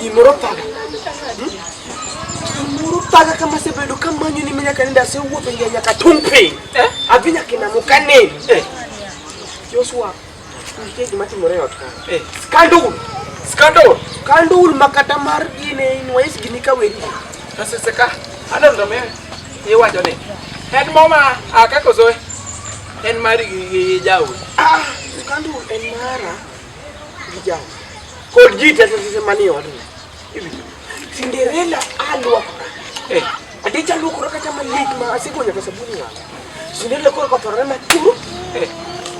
Gimoro thaga. Gimoro thaga kama sebedo kamanyo ni minyaka nenda se wuotho ngiya nyaka tung' piny. Eh? Adhi nyaka e namo ka nini. Eh. Joshua, nitie gima timore e ot ka. Eh. Skandul. Skandul. Skandul ma kata mar gine inwais gini ka weri. Kasese ka. Adondomewe. Iwacho ni. En moma akakozoe. En mari gi jaoda. Ah, kandu en mara gi jaoda. Kod ji te sese mani odu. Cinderella alwa. Eh, ade chalu koro kata malik ma asiko nyaka sabuni wa. Cinderella koro kotore na tu. Eh.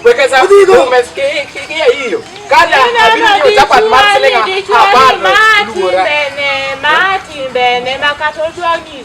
Weka sa udigo. Meske ke ke hiyo. Kada abiri ni utapat marselenga. Habari. Martin bene, Martin bene, makatodwangi.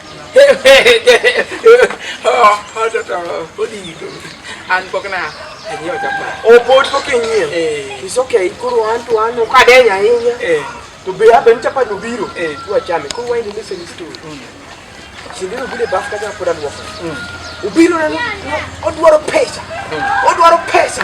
an pok na anyiewo chapa opod pok inyiewo eh. is okay koro an to an ok adeny ahinya eh. to be aben chapa nobiro eh. wachame koro why the message is to mm. sindiro bude baf kaja pod alwoko mm. obiro neno odwaro pesa mm. odwaro pesa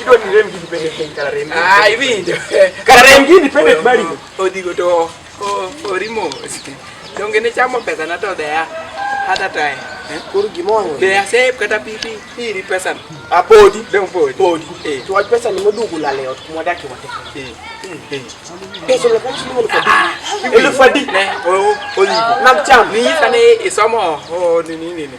Idwa ni rem gini pende piny kara rem. Ah, iwinjo. Kara rem gini pende bali. Odigo to orimo. Donge ne chamo pesa na to dea. Hata tae. Eh? Koro gimoro. Dea save kata pipi iri pesa. A ah, podi, dong podi. Podi. Eh. To wach pesa ni modugu la leo kuma daki wate. Eh. eh. Pesa la kanchi mo kwa. Ah, ah. Elu fadi. Ne, o odigo. Nam cham. Ni fane isomo. O ni ni ni.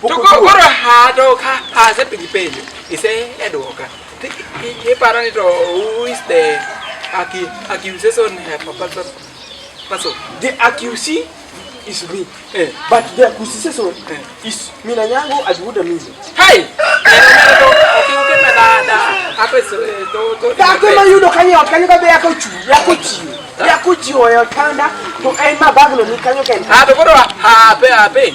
to koro hadoka asepenji penjo ise edwoka iparo ni to who is the accusation person person the accusee is me eh. but the accusation eh. is mina nyango ajuda mimi hey Takema yudo kanyo kanyo kabe yako chu yako chi yako chi oyo kanda to en mabaglo ni kanyo kenda. Ah to koro ha pe ha pe.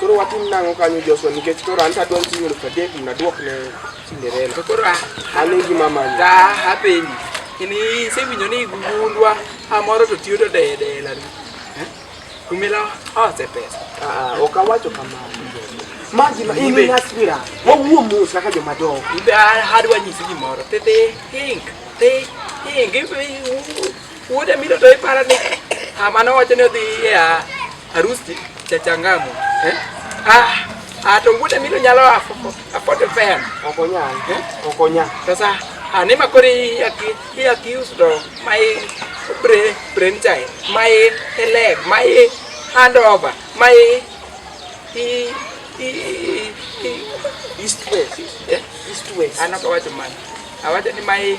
Koro watim nang'o kanyo Joshua nikech koro an tadwaro siling' elfu adek mondo aduok ne Cinderella. To koro a- Mano e gima amanyo. ta hapenji in isewinjo ni gugundwa amoro to tiyo to dedela ni kumila ose pesa Ah, ah, ok awacho kamano. Ma gima in Ibe. in aspira. Wawuo mos kaka joma dongo. ibe adwa nyisi gimoro tete hink te hink ibe Wuode miro to ipara ni ah, mano wacho ni odhi e ah, harusi cha changamu. Eh? Ah, ah to wuode miro nyalo afo afo fem. Okonya. Eh? Okonya. Sasa ani makori aki hi aki usto mai pre prenchai mai ele mai handover mai i i i east west eh? east west anakowacho mani awacho ni mai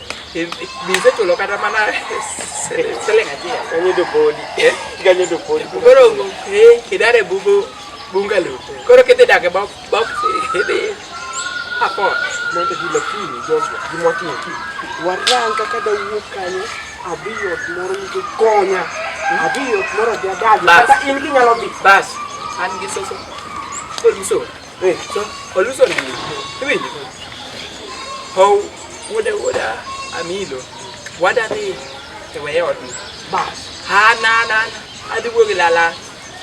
bize tolokata mana selenga te kanyedo podi eh? kanyedo podi koro kidare bubo bungalo koro kete dake bok bok apo mondo gi lakini joshua gi motin warang kaka da wuok kanyo abi yot moro nikech konya abi yot moro jadagi kata in kinyalo dhi bas an gi soso kod msoro Eh, so, oluso ni iwinjo how wuoda wuoda amilo wada ni e weye ot ni bas ha na na na adhi wuo gi lala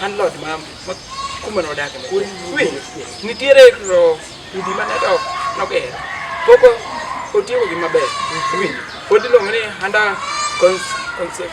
an lot ma ma kuma no dak ne winjo nitiere ro udi ma neto no ger poko otiyo gi maber winjo pod iluongo ni handa cons concept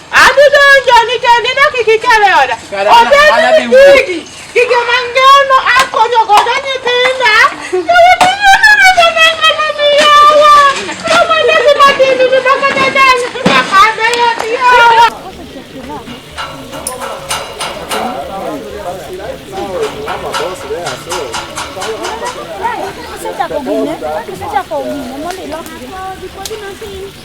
Adudo onjo nikech nindo kik ikere oda. Obed ni gigi, gige mangano akonyo godo nyithinda. Senta komine, senta komine, moli lo.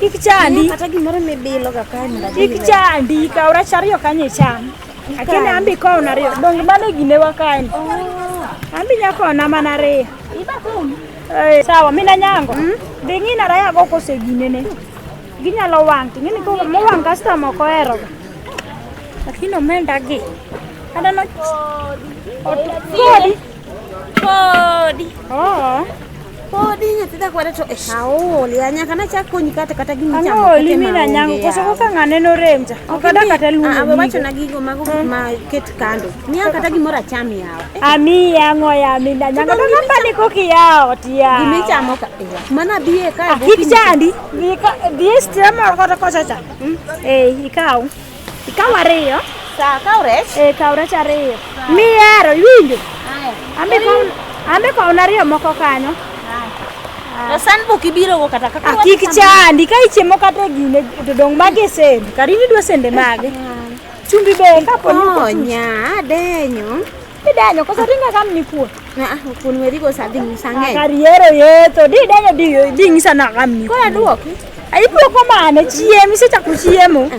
Kik chandi. Kata gimoro mibilo ga kanyo. Kik chandi, kaw rech ariyo kanyo icham. Akene ambi kaw na ariyo. Dong mano gine wa kanyo. Oh. Ambi nyako na mana ariyo. Iba kum. Eh, sawa, mina nyango. Hmm? Dhi ng'ina raya go kose gine ne. Ginyalo wang', ting'ini ko mo wang' customer ko ero. Lakini omenda gi. Adano. Kodi. Podi. Oh. Podi nyatida kwada to eh. Awo le anya kana cha konyi kata kata gini cha. Awo le mina nyango koso ko kanga neno remja. Okada kata lu. Awo bacho na gigo mago eh. ma ket kando. Ni kata gimora chami yao. Eh. Ami yango ya mina nyango to kamba ni koki yao tia. Gimi cha mo ka. Mana biye ka. Kiki chandi. Biye ka biye stima kota kosa cha. Hmm? Eh, ikao. Ikaw ariyo. Sa kaw rech? Eh, kaw rech ariyo. Mihero, iwinjo? Ambe kaw ambe kaw ariyo moko kanyo. Na san bok ibiro go kata kaka. Akik chandi ka ichiemo kata gine to dong mage sende. Karini dwa sende mage. Chumbi be kapo ni onya denyo. Idenyo koso ringa kam ni kuo. Na ah kun weri go sadhi musange. Kariero yeto di denyo di di ngisa na kam ni. Kwa duoki. Ayi duoko mane chiemo isechako chiemo.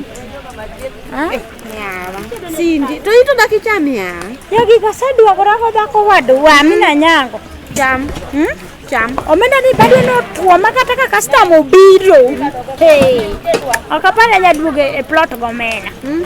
Ah. Eh, yawa. Sindi to ito daki cham ya. Ya gi kasa duoko rako dako wadwa mi na nyango. Cham. Hmm? Cham. Omenda ni bado no tuo makata ka customer obiro. Hey. Akapana nyaduoge e plot gomena. Hmm?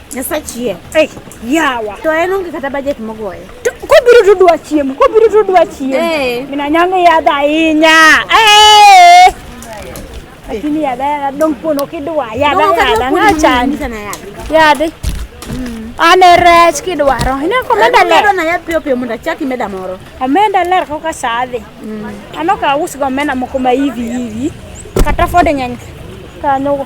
Nyasachie. Hey, yawa. To en onge kata budget mogoyo. Kobiro to dwa chiemo, kobiro to dwa chiemo. Hey. Eh. Mina nyango yadha ahinya. Hey. Eh. Lakini yadha yadha dong pono kidwa yadha yadha ngachani. Yadha. Mm. Ane rech kidwaro. Ine komenda ler. Ane na yath piyo piyo mondo achaki meda moro. Omenda ler kaka sadhi. Mm. Ano ka usgo omenda moko ma hivi hivi. Kata fode nyanya. Kanyo.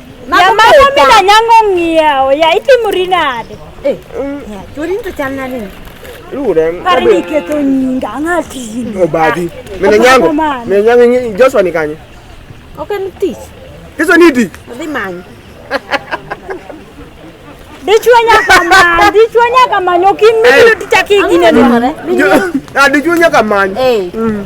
Yamano mina nyango ng'iewo ya itimori nade? Eh, chori to chal nade? Lure. Pare ni keto nyinga ng'ati. Obadi. Mina nyango. Mina nyango Joshua ni kanye? Ok en tich. Kiso ni di. Odhi manyo. Dichwo nyaka manyo, dichwo nyaka manyo kimilo tichaki gine dware. Ah, dichwo nyaka manyo. Eh. Mm.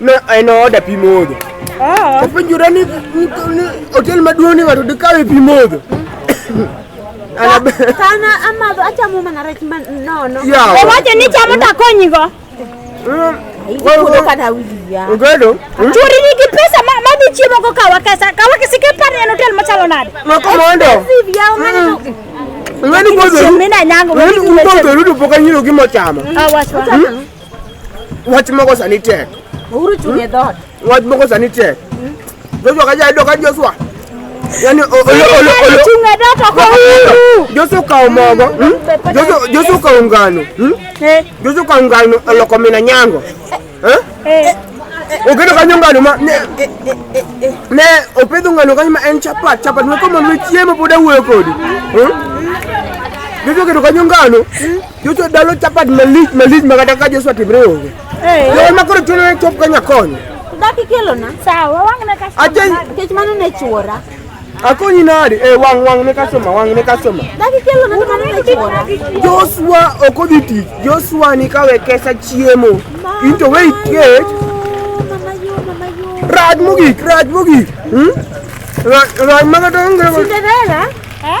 Ma en oda pi modho. Oh. Openjura ni hotel maduong' ni ng'ato dikawe pi modho. Kana amadho achamo mana rech ma nono. Owacho ni chamo takonyigo. Mm. Ogedo. Mm. Churi nigi pesa ma madhi chiemo go kawa kesa. Kawa kesi ke par en hotel machalo nade? Ma komondo. Ngani mm. gozo. Ngani gozo rudu poka nyiro gimo chama. Awachwa. Ah, Wach moko sani tek. Uhuru chung' e dhoot. Wach moko sani tek. Joshua kaja ido ka Joshua. Yaani o- olo- olo- olo- Chung' e dhoot ok Uhuru. Joshua okawo mogo. hmm? Joshua- Joshua okawo ngano. hmm? Eh, Joshua okawo ngano oloko mina nyango. Eh? eh. Oketo kanyo ngano ma ne ne opidho ngano kanyo ma en chapat chapat ma komo ne chiemo pod awuoyo kodi. hmm? Joshua oketo kanyo ngano Joshua dalo chapat malich malich ma kata ka Joshua timre onge. Eh. Yo ma koro chuno ni chop ka nyakonyo. Daki kelo na. Sawa, wang na ka. Aje kech mano ne chuora. Akonyi nadi? Eh wang wang ne customer, wang ne customer. Daki kelo na mano ne chuora. Joshua okodhi tich. Joshua ni kawe kesa chiemo. Into wait kech. Mama yo, mama yo. Raj mogik, raj mogik. Hmm? Raj raj ma kata onge. Cinderella? Eh?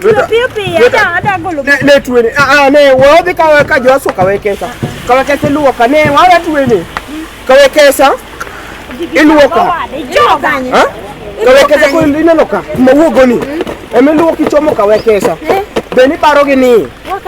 Piyo piyo piyo ada ada golo. Ne ne tuwe ni. Ah, ah ne wodhi kawe ka Joshua kawe kesa. Kawe kesa luwo ka ne wala tuwe ni. Kawe kesa. Iluwo ka. Joga. Ha? Kawe kesa ko ineno ka. Mawuogo ni. Eme luwo kichomo kawe kesa. Eh? Be ni paro gi ni.